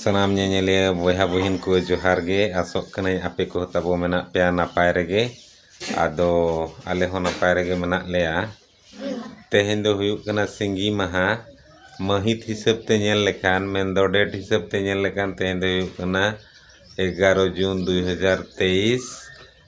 ᱥᱟᱱᱟᱢ ᱧᱮᱧᱮᱞᱤᱭᱟᱹ ᱵᱚᱭᱦᱟ ᱵᱩᱦᱤᱱ ᱠᱚ ᱡᱚᱦᱟᱨ ᱜᱮ ᱟᱥᱚᱜ ᱠᱟᱹᱱᱟᱹᱧ ᱟᱯᱮ ᱠᱚᱦᱚᱸ ᱛᱟᱵᱚ ᱢᱮᱱᱟᱜ ᱯᱮᱭᱟ ᱱᱟᱯᱟᱭ ᱨᱮᱜᱮ ᱟᱫᱚ ᱟᱞᱮ ᱦᱚᱸ ᱱᱟᱯᱟᱭ ᱨᱮᱜᱮ ᱢᱮᱱᱟᱜ ᱞᱮᱭᱟ ᱛᱮᱦᱮᱧ ᱫᱚ ᱦᱩᱭᱩᱜ ᱠᱟᱱᱟ ᱥᱤᱸᱜᱤ ᱢᱟᱦᱟ ᱢᱟᱹᱦᱤᱛ ᱦᱤᱥᱟᱹᱵ ᱛᱮ ᱧᱮᱞ ᱞᱮᱠᱷᱟᱱ ᱢᱮᱱᱫᱚ ᱰᱮᱴ ᱦᱤᱥᱟᱹᱵ ᱛᱮ ᱧᱮᱞ ᱞᱮᱠᱷᱟᱱ ᱛᱮᱦᱮᱧ ᱫᱚ ᱦᱩᱭᱩᱜ ᱠᱟᱱᱟ ᱮᱜᱟᱨᱚ ᱡᱩᱱ ᱫᱩᱭ ᱦᱟᱡᱟᱨ ᱛᱮᱭᱤᱥ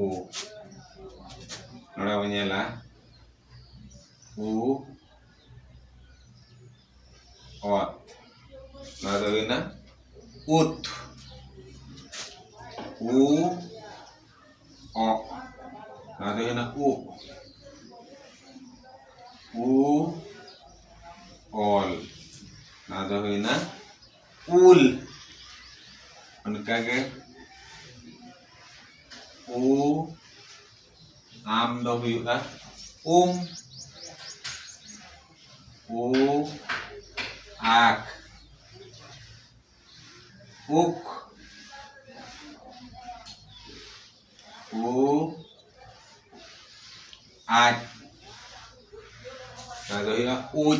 ᱩ ᱱᱚᱰᱮ ᱵᱚᱱ ᱧᱮᱞᱟ ᱩ ᱚᱛ ᱱᱚᱣᱟ ᱫᱚ ᱦᱩᱭᱱᱟ ᱩᱛ ᱩ ᱚ ᱱᱚᱣᱟ ᱫᱚ ᱦᱩᱭᱱᱟ ᱩ ᱩ ᱚᱞ ᱱᱚᱣᱟ ᱫᱚ ᱦᱩᱭᱱᱟ ᱩᱞ ᱚᱱᱠᱟᱜᱮ ᱩ ᱟᱢ ᱫᱚ ᱦᱩᱭᱩᱜᱼᱟ ᱩᱢ ᱩ ᱟᱠ ᱩᱠ ᱠᱩ ᱟᱡ ᱛᱟᱦᱚᱞᱮ ᱫᱚ ᱦᱩᱭᱩᱜᱼᱟ ᱩᱡ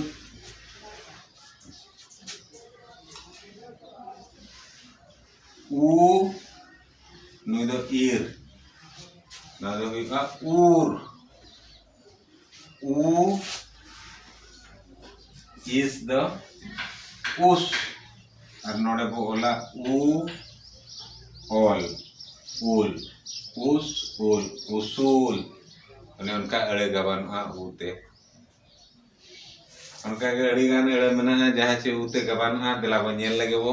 ᱩ ᱱᱩᱭ ᱫᱚ ᱤᱨ ᱱᱚᱣᱟ ᱫᱚ ᱦᱩᱭᱩᱜᱼᱟ ᱩᱨ U is the us ᱟᱨ ᱱᱚᱰᱮ ᱵᱚ ᱚᱞᱟ ᱩ ᱚᱞ ᱩᱞ ᱩᱥ ᱩᱞ ᱩᱥᱩᱞ ᱚᱱᱮ ᱚᱱᱠᱟ ᱟᱹᱲᱟᱹ ᱜᱟᱵᱟᱱᱚᱜᱼᱟ ᱩ ᱛᱮ ᱚᱱᱠᱟ ᱜᱮ ᱟᱹᱰᱤ ᱜᱟᱱ ᱟᱹᱲᱟᱹ ᱢᱮᱱᱟᱜᱼᱟ ᱡᱟᱦᱟᱸ ᱪᱮ ᱩ ᱛᱮ ᱜᱟᱵᱟᱱᱚᱜᱼᱟ ᱫᱮᱞᱟ ᱵᱚ ᱧᱮᱞ ᱞᱮᱜᱮ ᱵᱚ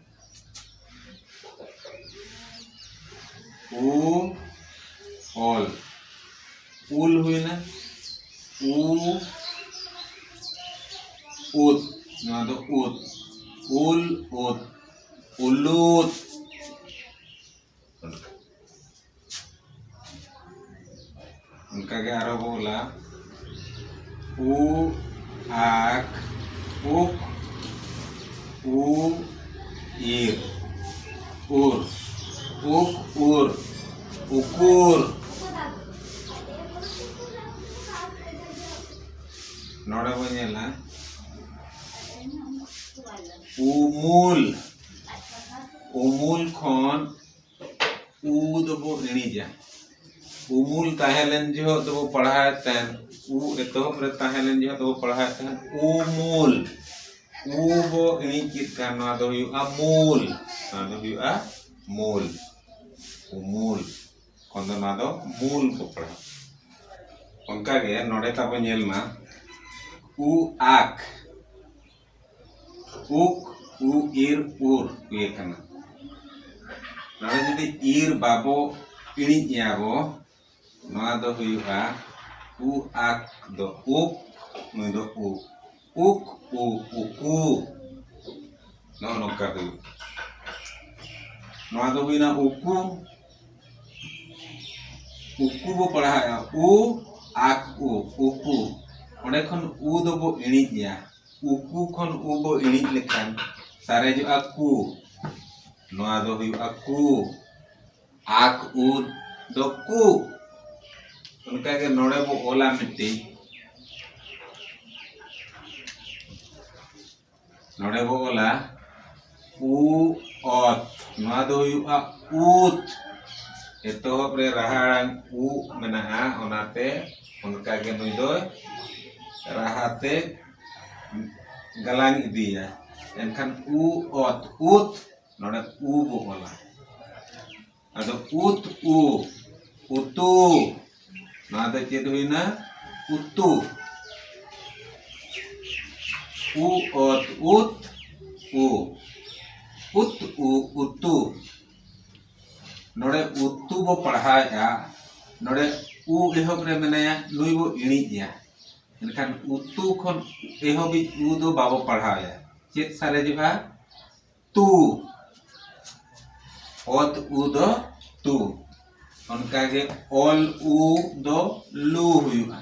ᱩ ᱚᱞ ᱩᱞ ᱦᱩᱭᱱᱟ ᱩ ᱩᱫ ᱱᱚᱣᱟ ᱫᱚ ᱩᱫ ᱩᱞ ᱩᱫ ᱩᱞᱩᱫ ᱚᱱᱠᱟ ᱜᱮ ᱟᱨᱚ ᱵᱚ ᱚᱞᱟ ᱩ ᱟᱠ ᱩᱠ ᱩ ᱤᱨ ᱩᱨ ᱩᱠ ᱩᱨ ᱩᱠᱩᱨ ᱱᱚᱰᱮ ᱵᱚ ᱧᱮᱞᱟ ᱩᱢᱩᱞ ᱩᱢᱩᱞ ᱠᱷᱚᱱ ᱩ ᱫᱚᱵᱚ ᱤᱬᱤᱡᱟ ᱩᱢᱩᱞ ᱛᱟᱦᱮᱸ ᱞᱮᱱ ᱡᱚᱦᱚᱜ ᱫᱚᱵᱚ ᱯᱟᱲᱦᱟᱣᱮᱫ ᱛᱟᱦᱮᱱ ᱩ ᱮᱛᱚᱦᱚᱵ ᱨᱮ ᱛᱟᱦᱮᱸ ᱞᱮᱱ ᱡᱚᱦᱚᱜ ᱫᱚᱵᱚ ᱯᱟᱲᱦᱟᱣᱮᱫ ᱛᱟᱦᱮᱱ ᱩᱢᱩᱞ ᱩ ᱵᱚ ᱤᱬᱤᱡ ᱠᱮᱫ ᱠᱷᱟᱱ ᱱᱚᱣᱟ ᱫᱚ ᱦᱩᱭᱩᱜᱼᱟ ᱢᱩᱞ ᱱᱚᱣᱟ ᱫᱚ ᱦᱩᱭᱩᱜᱼᱟ ᱢᱩᱞ ᱩᱢᱩᱞ ᱠᱷᱚᱱ ᱫᱚ ᱱᱚᱣᱟ ᱫᱚ ᱢᱩᱞ ᱵᱚ ᱯᱟᱲᱦᱟᱣ ᱚᱱᱠᱟᱜᱮ ᱱᱚᱰᱮ ᱛᱟᱵᱚ ᱧᱮᱞ ᱢᱟ ᱩ ᱟᱠ ᱩᱠ ᱩ ᱤᱨ ᱩᱨ ᱦᱩᱭ ᱟᱠᱟᱱᱟ ᱱᱚᱰᱮ ᱡᱩᱫᱤ ᱤᱨ ᱵᱟᱵᱚ ᱤᱬᱤᱡ ᱮᱭᱟ ᱵᱚ ᱱᱚᱣᱟ ᱫᱚ ᱦᱩᱭᱩᱜᱼᱟ ᱩ ᱟᱠ ᱫᱚ ᱩᱠ ᱱᱩᱭ ᱫᱚ ᱩ ᱩᱠ ᱩ ᱩᱠᱩ ᱱᱚᱜᱼᱚ ᱱᱚᱝᱠᱟ ᱦᱩᱭᱩᱜᱼᱟ ᱱᱚᱣᱟ ᱫᱚ ᱦᱩᱭᱱᱟ ᱩᱠᱩ ᱩᱠᱩ ᱵᱚ ᱯᱟᱲᱦᱟᱣᱮᱫᱼᱟ ᱩ ᱟ ᱠᱩ ᱩᱠᱩ ᱚᱸᱰᱮ ᱠᱷᱚᱱ ᱩ ᱫᱚᱵᱚ ᱤᱬᱤᱡᱮᱜᱼᱟ ᱩᱠᱩ ᱠᱷᱚᱱ ᱩ ᱵᱚ ᱤᱬᱤᱡ ᱞᱮᱠᱷᱟᱱ ᱥᱟᱨᱮᱡᱚᱜᱼᱟ ᱠᱩ ᱱᱚᱣᱟ ᱫᱚ ᱦᱩᱭᱩᱜᱼᱟ ᱠᱩ ᱟᱠ ᱩ ᱫᱚ ᱠᱩ ᱚᱱᱠᱟᱜᱮ ᱱᱚᱰᱮ ᱵᱚ ᱚᱞᱟ ᱢᱤᱫᱴᱤᱡ ᱱᱚᱰᱮ ᱵᱚ ᱚᱞᱟ ᱩ ᱚᱛ ᱱᱚᱣᱟ ᱫᱚ ᱦᱩᱭᱩᱜᱼᱟ ᱩᱛ ᱮᱛᱚᱦᱚᱵ ᱨᱮ ᱨᱟᱦᱟ ᱟᱲᱟᱝ ᱩ ᱢᱮᱱᱟᱜᱼᱟ ᱚᱱᱟᱛᱮ ᱚᱱᱠᱟᱜᱮ ᱱᱩᱭ ᱫᱚ ᱨᱟᱦᱟᱛᱮ ᱜᱟᱞᱟᱝ ᱤᱫᱤᱭᱟ ᱮᱱᱠᱷᱟᱱ ᱩ ᱚᱛ ᱩᱛ ᱱᱚᱰᱮ ᱩ ᱵᱚ ᱚᱞᱟ ᱟᱫᱚ ᱩᱛ ᱩ ᱩᱛᱩ ᱱᱚᱣᱟ ᱫᱚ ᱪᱮᱫ ᱦᱩᱭᱱᱟ ᱩᱛᱩ ᱩ ᱚᱛ ᱩᱛ ᱩ ᱩᱛ ᱩ ᱩᱛᱩ ᱱᱚᱰᱮ ᱩᱛᱩ ᱵᱚ ᱯᱟᱲᱦᱟᱣᱮᱫᱼᱟ ᱱᱚᱰᱮ ᱩ ᱮᱦᱚᱵ ᱨᱮ ᱢᱮᱱᱟᱭᱟ ᱱᱩᱭ ᱵᱚ ᱤᱬᱤᱡᱮᱭᱟ ᱮᱱᱠᱷᱟᱱ ᱩᱛᱩ ᱠᱷᱚᱱ ᱮᱦᱚᱵᱤᱡ ᱩ ᱫᱚ ᱵᱟᱵᱚ ᱯᱟᱲᱦᱟᱣᱮᱭᱟ ᱪᱮᱫ ᱥᱟᱨᱮᱡᱚᱜᱼᱟ ᱛᱩ ᱚᱛ ᱩ ᱫᱚ ᱛᱩ ᱚᱱᱠᱟᱜᱮ ᱚᱞ ᱩ ᱫᱚ ᱞᱩ ᱦᱩᱭᱩᱜᱼᱟ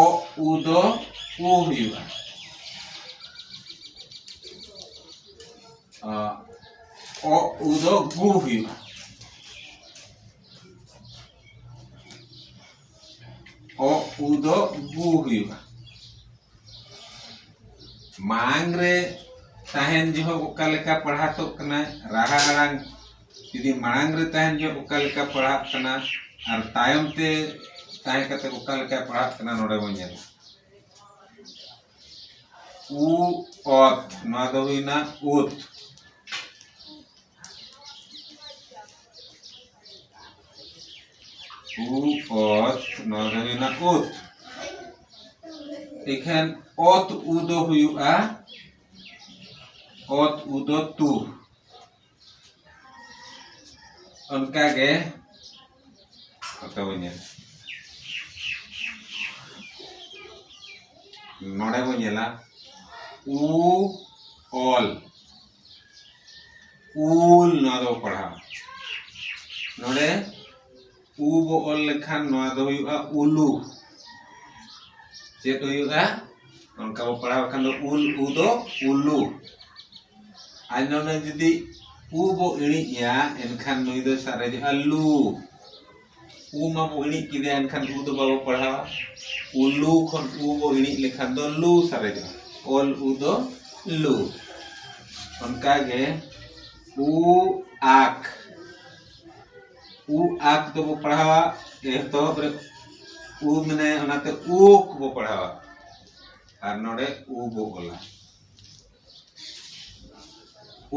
ᱚ ᱩ ᱫᱚ ᱩ ᱦᱩᱭᱩᱜᱼᱟ ᱚ ᱩ ᱫᱚ ᱜᱩ ᱦᱩᱭᱩᱜᱼᱟ ᱚ ᱩ ᱫᱚ ᱵᱩ ᱦᱩᱭᱩᱜᱼᱟ ᱢᱟᱲᱟᱝ ᱨᱮ ᱛᱟᱦᱮᱱ ᱡᱚᱦᱚᱜ ᱚᱠᱟ ᱞᱮᱠᱟ ᱯᱟᱲᱦᱟᱛᱚᱜ ᱠᱟᱱᱟ ᱨᱟᱦᱟ ᱟᱲᱟᱝ ᱡᱩᱫᱤ ᱢᱟᱲᱟᱝ ᱨᱮ ᱛᱟᱦᱮᱱ ᱡᱚᱦᱚᱜ ᱚᱠᱟ ᱞᱮᱠᱟ ᱯᱟᱲᱦᱟᱜ ᱠᱟᱱᱟ ᱟᱨ ᱛᱟᱭᱚᱢ ᱛᱮ ᱛᱟᱦᱮᱸ ᱠᱟᱛᱮ ᱚᱠᱟ ᱞᱮᱠᱟ ᱯᱟᱲᱦᱟᱜ ᱠᱟᱱᱟ ᱱᱚᱰᱮ ᱵᱚᱱ ᱧᱮᱞᱟ ᱩ ᱚᱛ ᱱᱚᱣᱟ ᱫᱚ ᱦᱩᱭᱱᱟ ᱩᱛ ᱩᱚᱛ ᱱᱚᱣᱟ ᱫᱚ ᱦᱩᱭᱱᱟ ᱩᱛ ᱮᱠᱷᱮᱱ ᱚᱛ ᱩ ᱫᱚ ᱦᱩᱭᱩᱜᱼᱟ ᱚᱛ ᱩ ᱫᱚ ᱛᱩ ᱚᱱᱠᱟᱜᱮ ᱱᱚᱛᱮ ᱵᱚᱱ ᱧᱮᱞᱟ ᱱᱚᱰᱮ ᱵᱚᱱ ᱧᱮᱞᱟ ᱩ ᱚᱞ ᱩᱞ ᱱᱚᱣᱟ ᱫᱚ ᱯᱟᱲᱦᱟᱣ ᱱᱚᱰᱮ ᱩ ᱵᱚ ᱚᱞ ᱞᱮᱠᱷᱟᱱ ᱱᱚᱣᱟ ᱫᱚ ᱦᱩᱭᱩᱜᱼᱟ ᱩᱞᱩ ᱪᱮᱫ ᱦᱩᱭᱩᱜᱼᱟ ᱚᱱᱠᱟ ᱵᱚ ᱯᱟᱲᱦᱟᱣ ᱞᱮᱠᱷᱟᱱ ᱫᱚ ᱩᱞ ᱩ ᱫᱚ ᱩᱞᱩ ᱟᱨ ᱱᱚᱰᱮ ᱡᱩᱫᱤ ᱩ ᱵᱚ ᱤᱬᱤᱡᱼᱟ ᱮᱱᱠᱷᱟᱱ ᱱᱩᱭ ᱫᱚ ᱥᱟᱨᱮᱡᱚᱜᱼᱟ ᱞᱩ ᱩ ᱢᱟᱵᱚ ᱤᱬᱤᱡ ᱠᱮᱫᱮᱭᱟ ᱮᱱᱠᱷᱟᱱ ᱩ ᱫᱚ ᱵᱟᱵᱚ ᱯᱟᱲᱦᱟᱣᱟ ᱩᱞᱩ ᱠᱷᱚᱱ ᱩ ᱵᱚ ᱤᱬᱤᱡ ᱞᱮᱠᱷᱟᱱ ᱫᱚ ᱞᱩ ᱥᱟᱨᱮᱡᱚᱜᱼᱟ ᱚᱞ ᱩ ᱫᱚ ᱞᱩ ᱚᱱᱠᱟᱜᱮ ᱩ ᱟᱠ ᱩ ᱟᱠ ᱫᱚᱵᱚ ᱯᱟᱲᱦᱟᱣᱟ ᱮᱛᱚᱦᱚᱵ ᱨᱮ ᱩ ᱢᱮᱱᱟᱭᱟ ᱚᱱᱟᱛᱮ ᱩᱠ ᱵᱚ ᱯᱟᱲᱦᱟᱣᱟ ᱟᱨ ᱱᱚᱰᱮ ᱩ ᱵᱚ ᱚᱞᱟ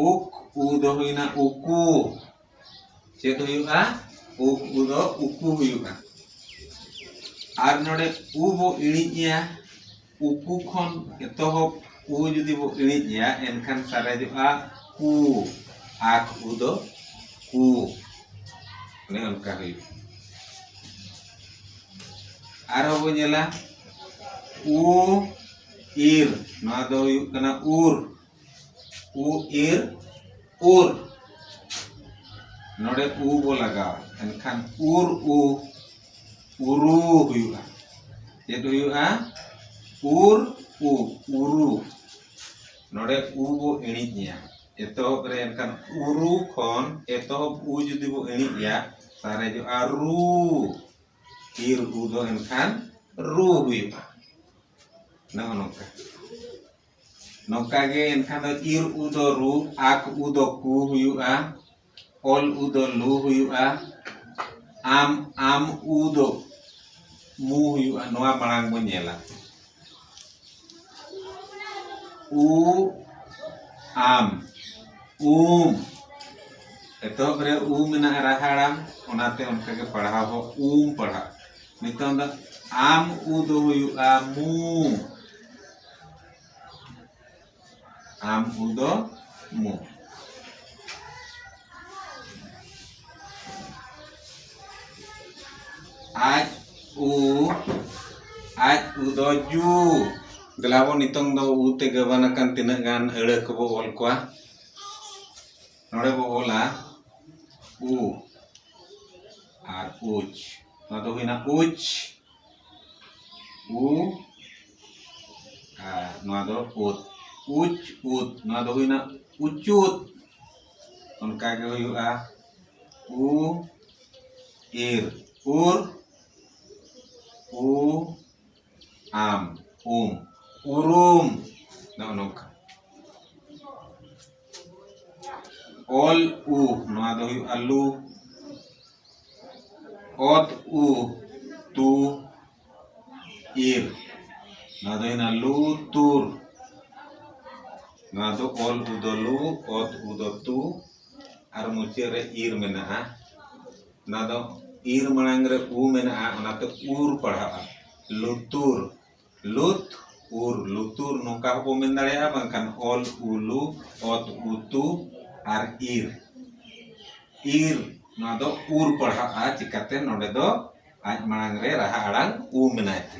ᱩᱠ ᱩ ᱫᱚ ᱦᱩᱭᱱᱟ ᱩᱠᱩ ᱪᱮᱫ ᱦᱩᱭᱩᱜᱼᱟ ᱩᱠ ᱩ ᱫᱚ ᱩᱠᱩ ᱦᱩᱭᱩᱜᱼᱟ ᱟᱨ ᱱᱚᱰᱮ ᱩ ᱵᱚ ᱤᱬᱤᱡᱮᱭᱟ ᱩᱠᱩ ᱠᱷᱚᱱ ᱮᱛᱚᱦᱚᱵ ᱩ ᱡᱩᱫᱤ ᱵᱚ ᱤᱬᱤᱡᱮᱭᱟ ᱮᱱᱠᱷᱟᱱ ᱥᱟᱨᱮᱡᱚᱜᱼᱟ ᱠᱩ ᱟᱠ ᱩ ᱫᱚ ᱠᱩ ᱚᱱᱮ ᱚᱱᱠᱟ ᱦᱩᱭᱩᱜᱼᱟ ᱟᱨᱦᱚᱸ ᱵᱚ ᱧᱮᱞᱟ ᱩ ᱤᱨ ᱱᱚᱣᱟ ᱫᱚ ᱦᱩᱭᱩᱜ ᱠᱟᱱᱟ ᱩᱨ ᱩ ᱤᱨ ᱩᱨ ᱱᱚᱰᱮ ᱩ ᱵᱚ ᱞᱟᱜᱟᱣᱟ ᱮᱱᱠᱷᱟᱱ ᱩᱨ ᱩ ᱩᱨᱩ ᱦᱩᱭᱩᱜᱼᱟ ᱪᱮᱫ ᱦᱩᱭᱩᱜᱼᱟ ᱩᱨ ᱩ ᱩᱨᱩ ᱱᱚᱰᱮ ᱩ ᱵᱚ ᱮᱬᱤᱡ ᱮᱭᱟ ᱮᱛᱚᱦᱚᱵ ᱨᱮ ᱮᱱᱠᱷᱟᱱ ᱩᱨᱩ ᱠᱷᱚᱱ ᱮᱛᱚᱦᱚᱵ ᱩ ᱡᱩᱫᱤ ᱵᱚ ᱮᱬᱤᱡ ᱮᱭᱟ ᱥᱟᱨᱮᱡᱚᱜᱼᱟ ᱨᱩ ᱤᱨ ᱩ ᱫᱚ ᱮᱱᱠᱷᱟᱱ ᱨᱩ ᱦᱩᱭᱩᱜᱼᱟ ᱱᱚᱜᱼᱚ ᱱᱚᱝᱠᱟ ᱱᱚᱝᱠᱟ ᱜᱮ ᱮᱱᱠᱷᱟᱱ ᱫᱚ ᱤᱨ ᱩ ᱫᱚ ᱨᱩ ᱟᱠ ᱩ ᱫᱚ ᱠᱩ ᱦᱩᱭᱩᱜᱼᱟ ᱚᱞ ᱩ ᱫᱚ ᱞᱩ ᱦᱩᱭᱩᱜᱼᱟ ᱟᱢ ᱟᱢ ᱩ ᱫᱚ ᱢᱩ ᱦᱩᱭᱩᱜᱼᱟ ᱱᱚᱣᱟ ᱢᱟᱲᱟᱝ ᱵᱚᱱ ᱧᱮᱞᱟ ᱩ ᱟᱢ ᱩᱢ ᱮᱛᱚᱦᱚᱵ ᱨᱮ ᱩ ᱢᱮᱱᱟᱜᱼᱟ ᱨᱟᱦᱟ ᱟᱲᱟᱝ ᱚᱱᱟᱛᱮ ᱚᱱᱠᱟᱜᱮ ᱯᱟᱲᱦᱟᱣ ᱦᱚᱸ ᱩᱢ ᱯᱟᱲᱦᱟᱜ ᱱᱤᱛᱚᱝ ᱫᱚ ᱟᱢ ᱩ ᱫᱚ ᱦᱩᱭᱩᱜᱼᱟ ᱢᱩ ᱟᱢ ᱩ ᱫᱚ ᱢᱩ ᱟᱡ ᱩ ᱟᱡ ᱩ ᱫᱚ ᱡᱩ ᱫᱮᱞᱟᱵᱚ ᱱᱤᱛᱚᱝ ᱫᱚ ᱩ ᱛᱮ ᱜᱟᱵᱟᱱ ᱟᱠᱟᱱ ᱛᱤᱱᱟᱹᱜ ᱜᱟᱱ ᱟᱹᱲᱟᱹ ᱠᱚᱵᱚ ᱚᱞ ᱠᱚᱣᱟ ᱱᱚᱰᱮ ᱵᱚ ᱚᱞᱟ ᱩ ᱟᱨ ᱩᱪ ᱱᱚᱣᱟ ᱫᱚ ᱦᱩᱭᱱᱟ ᱩᱪ ᱩ ᱟᱨ ᱱᱚᱣᱟ ᱫᱚ ᱩᱛ ᱩᱪ ᱩᱛ ᱱᱚᱣᱟ ᱫᱚ ᱦᱩᱭᱱᱟ ᱩᱪᱩᱛ ᱚᱱᱠᱟ ᱜᱮ ᱦᱩᱭᱩᱜᱼᱟ ᱩ ᱤᱨ ᱩᱨ ᱩ ᱟᱢ ᱩᱢ ᱩᱨᱩᱢ ᱱᱚᱜᱼᱚ ᱱᱚᱝᱠᱟ ᱚᱞ ᱩ ᱱᱚᱣᱟ ᱫᱚ ᱦᱩᱭᱩᱜᱼᱟ ᱞᱩ ᱚᱛ ᱩ ᱛᱩ ᱤᱨ ᱱᱚᱣᱟ ᱫᱚ ᱦᱩᱭᱱᱟ ᱞᱩ ᱛᱩᱨ ᱱᱚᱣᱟ ᱫᱚ ᱚᱞ ᱩ ᱫᱚ ᱞᱩ ᱚᱛ ᱩ ᱫᱚ ᱛᱩ ᱟᱨ ᱢᱩᱪᱟᱹᱫ ᱨᱮ ᱤᱨ ᱢᱮᱱᱟᱜᱼᱟ ᱚᱱᱟ ᱫᱚ ᱤᱨ ᱢᱟᱲᱟᱝ ᱨᱮ ᱩ ᱢᱮᱱᱟᱜᱼᱟ ᱚᱱᱟᱛᱮ ᱩᱨ ᱯᱟᱲᱦᱟᱜᱼᱟ ᱞᱩᱛᱩᱨ ᱞᱩᱛ ᱩᱨ ᱞᱩᱛᱩᱨ ᱱᱚᱝᱠᱟ ᱦᱚᱸᱵᱚ ᱢᱮᱱ ᱫᱟᱲᱮᱭᱟᱜᱼᱟ ᱵᱟᱝᱠᱷᱟᱱ ᱚᱞ ᱩᱞᱩ ᱚᱛ ᱩᱛᱩ ᱟᱨ ᱤᱨ ᱤᱨ ᱱᱚᱣᱟ ᱫᱚ ᱩᱨ ᱯᱟᱲᱦᱟᱜᱼᱟ ᱪᱤᱠᱟᱛᱮ ᱱᱚᱰᱮ ᱫᱚ ᱟᱡ ᱢᱟᱲᱟᱝ ᱨᱮ ᱨᱟᱦᱟ ᱟᱲᱟᱝ ᱩ ᱢᱮᱱᱟᱭ ᱛᱮ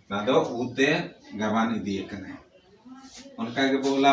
ᱚᱱᱟ ᱫᱚ ᱩ ᱛᱮ ᱜᱟᱵᱟᱱ ᱤᱫᱤ ᱟᱠᱟᱱᱟᱭ ᱚᱱᱠᱟ ᱜᱮᱵᱚ ᱚᱞᱟ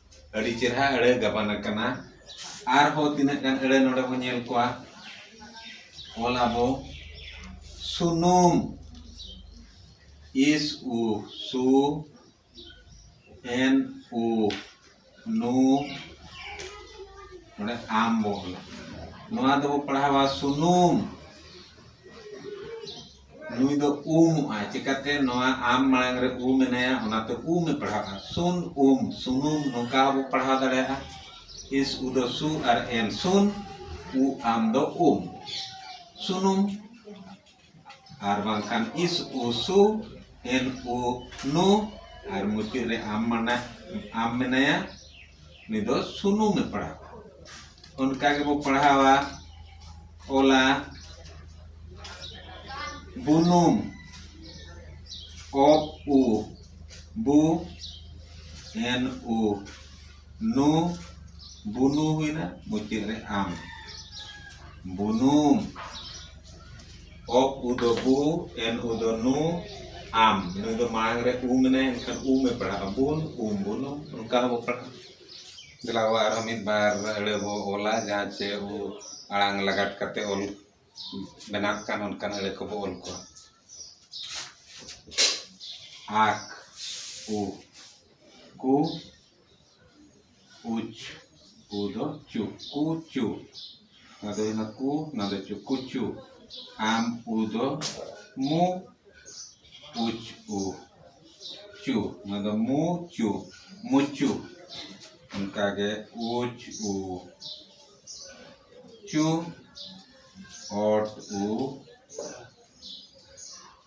ᱟᱹᱰᱤ ᱪᱮᱨᱦᱟ ᱟᱹᱲᱟᱹ ᱜᱟᱵᱟᱱ ᱟᱠᱟᱱᱟ ᱟᱨᱦᱚᱸ ᱛᱤᱱᱟᱹᱜ ᱜᱟᱱ ᱟᱹᱲᱟᱹ ᱱᱚᱰᱮ ᱵᱚᱱ ᱧᱮᱞ ᱠᱚᱣᱟ ᱚᱞ ᱟᱵᱚ ᱥᱩᱱᱩᱢ ᱤᱥ ᱩ ᱥᱩ ᱮᱱ ᱩ ᱱᱩ ᱱᱚᱰᱮ ᱟᱢ ᱵᱚ ᱚᱞᱟ ᱱᱚᱣᱟ ᱫᱚᱵᱚ ᱯᱟᱲᱦᱟᱣᱟ ᱥᱩᱱᱩᱢ ᱱᱩᱭ ᱫᱚ ᱩᱢᱩᱜᱼᱟᱭ ᱪᱤᱠᱟᱹᱛᱮ ᱱᱚᱣᱟ ᱟᱢ ᱢᱟᱲᱟᱝ ᱨᱮ ᱩ ᱢᱮᱱᱟᱭᱟ ᱚᱱᱟᱛᱮ ᱩᱢᱮ ᱯᱟᱲᱦᱟᱜᱼᱟ ᱥᱩᱱ ᱩᱢ ᱥᱩᱱᱩᱢ ᱱᱚᱝᱠᱟ ᱦᱚᱸᱵᱚ ᱯᱟᱲᱦᱟᱣ ᱫᱟᱲᱮᱭᱟᱜᱼᱟ ᱤᱥ ᱩ ᱫᱚ ᱥᱩ ᱟᱨ ᱮᱢ ᱥᱩᱱ ᱩ ᱟᱢ ᱫᱚ ᱩᱢ ᱥᱩᱱᱩᱢ ᱟᱨ ᱵᱟᱝᱠᱷᱟᱱ ᱤᱥ ᱩ ᱥᱩ ᱮᱱ ᱩ ᱱᱩ ᱟᱨ ᱢᱩᱪᱟᱹᱫ ᱨᱮ ᱟᱢ ᱢᱟᱱᱟ ᱟᱢ ᱢᱮᱱᱟᱭᱟ ᱩᱱᱤ ᱫᱚ ᱥᱩᱱᱩᱢᱮ ᱯᱟᱲᱦᱟᱣᱟ ᱚᱱᱠᱟ ᱜᱮᱵᱚ ᱯᱟᱲᱦᱟᱣᱟ ᱚᱞᱟ ᱵᱩᱱᱩᱢ ᱚᱯ ᱩ ᱵᱩ ᱮᱱ ᱩ ᱱᱩ ᱵᱩᱱᱩ ᱦᱩᱭᱱᱟ ᱢᱩᱪᱟᱹᱫ ᱨᱮ ᱟᱢ ᱵᱩᱱᱩᱢ ᱚᱠ ᱩ ᱫᱚ ᱵᱩ ᱮᱱ ᱩ ᱫᱚ ᱱᱩ ᱟᱢ ᱱᱩᱭ ᱫᱚ ᱢᱟᱲᱟᱝ ᱨᱮ ᱩ ᱢᱮᱱᱟᱭᱟ ᱮᱱᱠᱷᱟᱱ ᱩᱢ ᱮ ᱯᱟᱲᱦᱟᱜᱼᱟ ᱵᱩᱱ ᱩᱢ ᱵᱩᱱᱩᱢ ᱚᱱᱠᱟ ᱦᱚᱸᱵᱚ ᱯᱟᱲᱦᱟᱜᱼᱟ ᱫᱮᱞᱟ ᱵᱚ ᱟᱨᱦᱚᱸ ᱢᱤᱫ ᱵᱟᱨ ᱟᱹᱲᱟᱹ ᱵᱚ ᱚᱞᱟ ᱡᱟᱦᱟᱸ ᱪᱮ ᱟᱵᱚ ᱟᱲᱟᱝ ᱞᱟᱜᱟᱫ ᱠᱟᱛᱮᱫ ᱚᱞ ᱵᱮᱱᱟᱜ ᱠᱟᱱ ᱚᱱᱠᱟᱱ ᱟᱹᱲᱟᱹ ᱠᱚᱵᱚ ᱚᱞ ᱠᱚᱣᱟ ᱟᱠ ᱩ ᱠᱩ ᱩᱪ ᱠᱩ ᱫᱚ ᱪᱩ ᱠᱩ ᱪᱩ ᱱᱚᱣᱟ ᱫᱚ ᱦᱩᱭᱱᱟ ᱠᱩ ᱱᱚᱣᱟ ᱫᱚ ᱪᱩ ᱠᱩ ᱪᱩ ᱟᱢ ᱩ ᱫᱚ ᱢᱩ ᱩᱪ ᱩ ᱪᱩ ᱱᱚᱣᱟ ᱫᱚ ᱢᱩ ᱪᱩ ᱢᱩᱪᱩ ᱚᱱᱠᱟᱜᱮ ᱩᱪ ᱩ ᱪᱩ ᱚᱴ ᱩ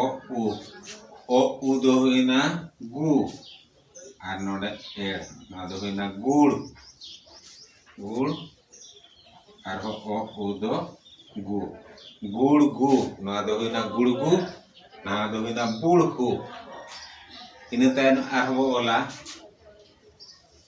ᱚ ᱩ ᱚ ᱩ ᱫᱚ ᱦᱩᱭᱱᱟ ᱜᱩ ᱟᱨ ᱱᱚᱰᱮ ᱮᱲ ᱱᱚᱣᱟ ᱫᱚ ᱦᱩᱭᱱᱟ ᱜᱩᱲ ᱜᱩᱲ ᱟᱨᱦᱚᱸ ᱚ ᱩ ᱫᱚ ᱜᱩ ᱜᱩᱲ ᱜᱩ ᱱᱚᱣᱟ ᱫᱚ ᱦᱩᱭᱱᱟ ᱜᱩᱲᱜᱩ ᱱᱚᱣᱟ ᱫᱚ ᱦᱩᱭᱱᱟ ᱵᱩᱲᱦᱩ ᱤᱱᱟᱹ ᱛᱟᱭᱚᱢ ᱟᱨᱦᱚᱸ ᱵᱚ ᱚᱞᱟ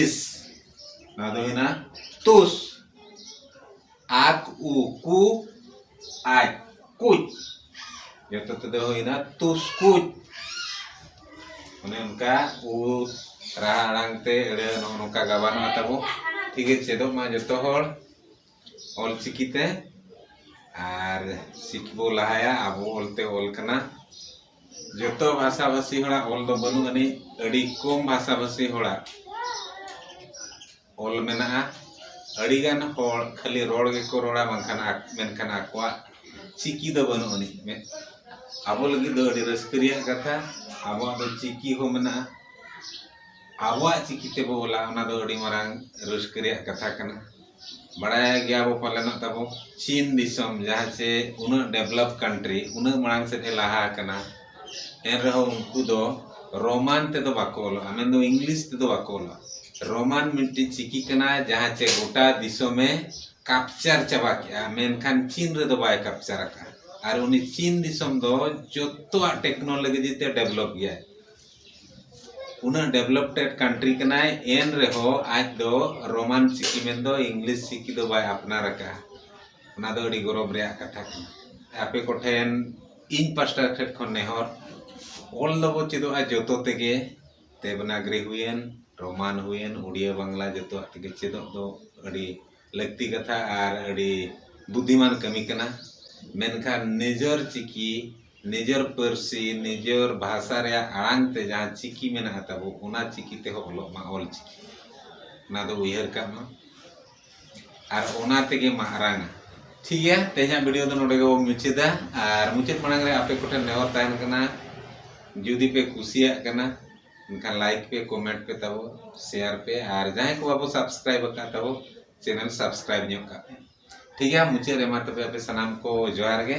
ᱤᱥ ᱱᱚᱣᱟ ᱫᱚ ᱦᱩᱭᱱᱟ ᱛᱩᱥ ᱟᱠ ᱩ ᱠᱩ ᱟᱡ ᱠᱩᱪ ᱡᱚᱛᱚ ᱛᱮᱫᱚ ᱦᱩᱭᱱᱟ ᱛᱩᱥ ᱠᱩᱪ ᱚᱱᱮ ᱚᱱᱠᱟ ᱩ ᱨᱟᱦᱟ ᱟᱲᱟᱝ ᱛᱮ ᱟᱹᱲᱟᱹ ᱱᱚᱜᱼᱚ ᱱᱚᱝᱠᱟ ᱜᱟᱵᱟᱱᱚᱜᱼᱟ ᱛᱟᱵᱚ ᱴᱷᱤᱠ ᱜᱮ ᱪᱮᱫᱚᱜ ᱢᱟ ᱡᱚᱛᱚ ᱦᱚᱲ ᱚᱞ ᱪᱤᱠᱤ ᱛᱮ ᱟᱨ ᱪᱤᱠᱤ ᱵᱚ ᱞᱟᱦᱟᱭᱟ ᱟᱵᱚ ᱚᱞ ᱛᱮ ᱚᱞ ᱠᱟᱱᱟ ᱡᱚᱛᱚ ᱵᱷᱟᱥᱟ ᱵᱷᱟᱥᱤ ᱦᱚᱲᱟᱜ ᱚᱞ ᱫᱚ ᱵᱟᱹᱱᱩᱜ ᱟᱹᱱᱤᱡ ᱟᱹᱰᱤ ᱠᱚᱢ ᱵᱷᱟᱥᱟ ᱵᱷᱟᱥᱤ ᱦᱚᱲᱟᱜ ᱚᱞ ᱢᱮᱱᱟᱜᱼᱟ ᱟᱹᱰᱤ ᱜᱟᱱ ᱦᱚᱲ ᱠᱷᱟᱹᱞᱤ ᱨᱚᱲ ᱜᱮᱠᱚ ᱨᱚᱲᱟ ᱵᱟᱝᱠᱷᱟᱱ ᱢᱮᱱᱠᱷᱟᱱ ᱟᱠᱚᱣᱟᱜ ᱪᱤᱠᱤ ᱫᱚ ᱵᱟᱹᱱᱩᱜ ᱟᱹᱱᱤᱡ ᱟᱵᱚ ᱞᱟᱹᱜᱤᱫ ᱫᱚ ᱟᱹᱰᱤ ᱨᱟᱹᱥᱠᱟᱹ ᱨᱮᱭᱟᱜ ᱠᱟᱛᱷᱟ ᱟᱵᱚᱣᱟᱜ ᱫᱚ ᱪᱤᱠᱤ ᱦᱚᱸ ᱢᱮᱱᱟᱜᱼᱟ ᱟᱵᱚᱣᱟᱜ ᱪᱤᱠᱤ ᱛᱮᱵᱚ ᱚᱞᱟ ᱚᱱᱟ ᱫᱚ ᱟᱹᱰᱤ ᱢᱟᱨᱟᱝ ᱨᱟᱹᱥᱠᱟᱹ ᱨᱮᱭᱟᱜ ᱠᱟᱛᱷᱟ ᱠᱟᱱᱟ ᱵᱟᱲᱟᱭ ᱜᱮᱭᱟ ᱵᱚ ᱯᱟᱞᱮᱱ ᱦᱟᱸᱜ ᱛᱟᱵᱚ ᱪᱤᱱ ᱫᱤᱥᱚᱢ ᱡᱟᱦᱟᱸ ᱪᱮ ᱩᱱᱟᱹᱜ ᱰᱮᱵᱷᱞᱚᱯ ᱠᱟᱱᱴᱨᱤ ᱩᱱᱟᱹᱜ ᱢᱟᱲᱟᱝ ᱥᱮᱫ ᱮ ᱞᱟᱦᱟ ᱟᱠᱟᱱᱟ ᱮᱱ ᱨᱮᱦᱚᱸ ᱩᱱᱠᱩ ᱫᱚ ᱨᱳᱢᱟᱱ ᱛᱮᱫᱚ ᱵᱟᱠᱚ ᱚᱞᱚᱜᱼᱟ ᱢᱮᱱ ᱫᱚ ᱤᱝᱞᱤᱥ ᱛᱮᱫᱚ ᱵᱟᱠᱚ ᱚᱞᱚᱜᱼᱟ ᱨᱳᱢᱟᱱ ᱢᱤᱫᱴᱤᱡ ᱪᱤᱠᱤ ᱠᱟᱱᱟ ᱡᱟᱦᱟᱸ ᱪᱮ ᱜᱚᱴᱟ ᱫᱤᱥᱚᱢᱮ ᱠᱟᱯᱪᱟᱨ ᱪᱟᱵᱟ ᱠᱮᱜᱼᱟ ᱢᱮᱱᱠᱷᱟᱱ ᱪᱤᱱ ᱨᱮᱫᱚ ᱵᱟᱭ ᱠᱟᱯᱪᱟᱨ ᱟᱠᱟᱜᱼᱟ ᱟᱨ ᱩᱱᱤ ᱪᱤᱱ ᱫᱤᱥᱚᱢ ᱫᱚ ᱡᱚᱛᱚᱣᱟᱜ ᱴᱮᱠᱱᱳᱞᱚᱡᱤ ᱛᱮ ᱰᱮᱵᱷᱞᱚᱯ ᱜᱮᱭᱟᱭ ᱩᱱᱟᱹᱜ ᱰᱮᱵᱷᱞᱚᱯᱴᱮᱰ ᱠᱟᱱᱴᱨᱤ ᱠᱟᱱᱟᱭ ᱮᱱ ᱨᱮᱦᱚᱸ ᱟᱡ ᱫᱚ ᱨᱳᱢᱟᱱ ᱪᱤᱠᱤ ᱢᱮᱱ ᱫᱚ ᱤᱝᱞᱤᱥ ᱪᱤᱠᱤ ᱫᱚ ᱵᱟᱭ ᱟᱯᱱᱟᱨ ᱟᱠᱟᱫᱼᱟ ᱚᱱᱟ ᱫᱚ ᱟᱹᱰᱤ ᱜᱚᱨᱚᱵᱽ ᱨᱮᱭᱟᱜ ᱠᱟᱛᱷᱟ ᱠᱟᱱᱟ ᱟᱯᱮ ᱠᱚ ᱴᱷᱮᱱ ᱤᱧ ᱯᱟᱥᱴᱟ ᱥᱮᱫ ᱠᱷᱚᱱ ᱱᱮᱦᱚᱨ ᱚᱞ ᱫᱚᱵᱚ ᱪᱮᱫᱚᱜᱼᱟ ᱡᱚᱛᱚ ᱛᱮᱜᱮ ᱫᱮᱵᱽᱱᱟᱜᱚᱨᱤ ᱦᱩᱭᱮᱱ ᱨᱳᱢᱟᱱ ᱦᱩᱭᱮᱱ ᱩᱰᱤᱭᱟᱹ ᱵᱟᱝᱞᱟ ᱡᱚᱛᱚᱣᱟᱜ ᱛᱮᱜᱮ ᱪᱮᱫᱚᱜ ᱫᱚ ᱟᱹᱰᱤ ᱞᱟᱹᱠᱛᱤ ᱠᱟᱛᱷᱟ ᱟᱨ ᱟᱹᱰᱤ ᱵᱩᱫᱷᱤᱢᱟᱱ ᱠᱟᱹᱢᱤ ᱠᱟᱱᱟ ᱢᱮᱱᱠᱷᱟᱱ ᱱᱤᱡᱚᱨ ᱪᱤᱠᱤ ᱱᱤᱡᱚᱨ ᱯᱟᱹᱨᱥᱤ ᱱᱤᱡᱚᱨ ᱵᱷᱟᱥᱟ ᱨᱮᱭᱟᱜ ᱟᱲᱟᱝ ᱛᱮ ᱡᱟᱦᱟᱸ ᱪᱤᱠᱤ ᱢᱮᱱᱟᱜᱼᱟ ᱛᱟᱵᱚ ᱚᱱᱟ ᱪᱤᱠᱤ ᱛᱮᱦᱚᱸ ᱚᱞᱚᱜ ᱢᱟ ᱚᱞ ᱪᱤᱠᱤ ᱚᱱᱟ ᱫᱚ ᱩᱭᱦᱟᱹᱨ ᱠᱟᱜ ᱢᱟ ᱟᱨ ᱚᱱᱟ ᱛᱮᱜᱮ ᱢᱟᱨᱟᱝ ᱴᱷᱤᱠ ᱜᱮᱭᱟ ᱛᱮᱦᱮᱧᱟᱜ ᱵᱷᱤᱰᱤᱭᱳ ᱫᱚ ᱱᱚᱰᱮ ᱜᱮᱵᱚᱱ ᱢᱩᱪᱟᱹᱫᱟ ᱟᱨ ᱢᱩᱪᱟᱹᱫ ᱢᱟᱲᱟᱝ ᱨᱮ ᱟᱯᱮ ᱠᱚᱴᱷᱮᱱ ᱱᱮᱦᱚᱨ ᱛᱟᱦᱮᱱ ᱠᱟᱱᱟ ᱡᱩᱫᱤ ᱯᱮ ᱠᱩᱥᱤᱭᱟᱜ ᱠᱟᱱᱟ ᱮᱱᱠᱷᱟᱱ ᱞᱟᱭᱤᱠ ᱯᱮ ᱠᱚᱢᱮᱱᱴ ᱯᱮ ᱛᱟᱵᱚ ᱥᱮᱭᱟᱨ ᱯᱮ ᱟᱨ ᱡᱟᱦᱟᱸᱭ ᱠᱚ ᱵᱟᱵᱚ ᱥᱟᱵᱥᱠᱨᱟᱭᱤᱵ ᱟᱠᱟᱫ ᱛᱟᱵᱚ ᱪᱮᱱᱮᱞ ᱥᱟᱵᱥᱠᱨᱟᱭᱤᱵ ᱧᱚᱜ ᱠᱟᱜ ᱯᱮ ᱴᱷᱤᱠ ᱜᱮᱭᱟ ᱢᱩᱪᱟᱹᱫ ᱨᱮ ᱢᱟ ᱛᱚᱵᱮ ᱟᱯᱮ ᱥᱟᱱᱟᱢ ᱠᱚ ᱡᱚᱦᱟᱨ ᱜᱮ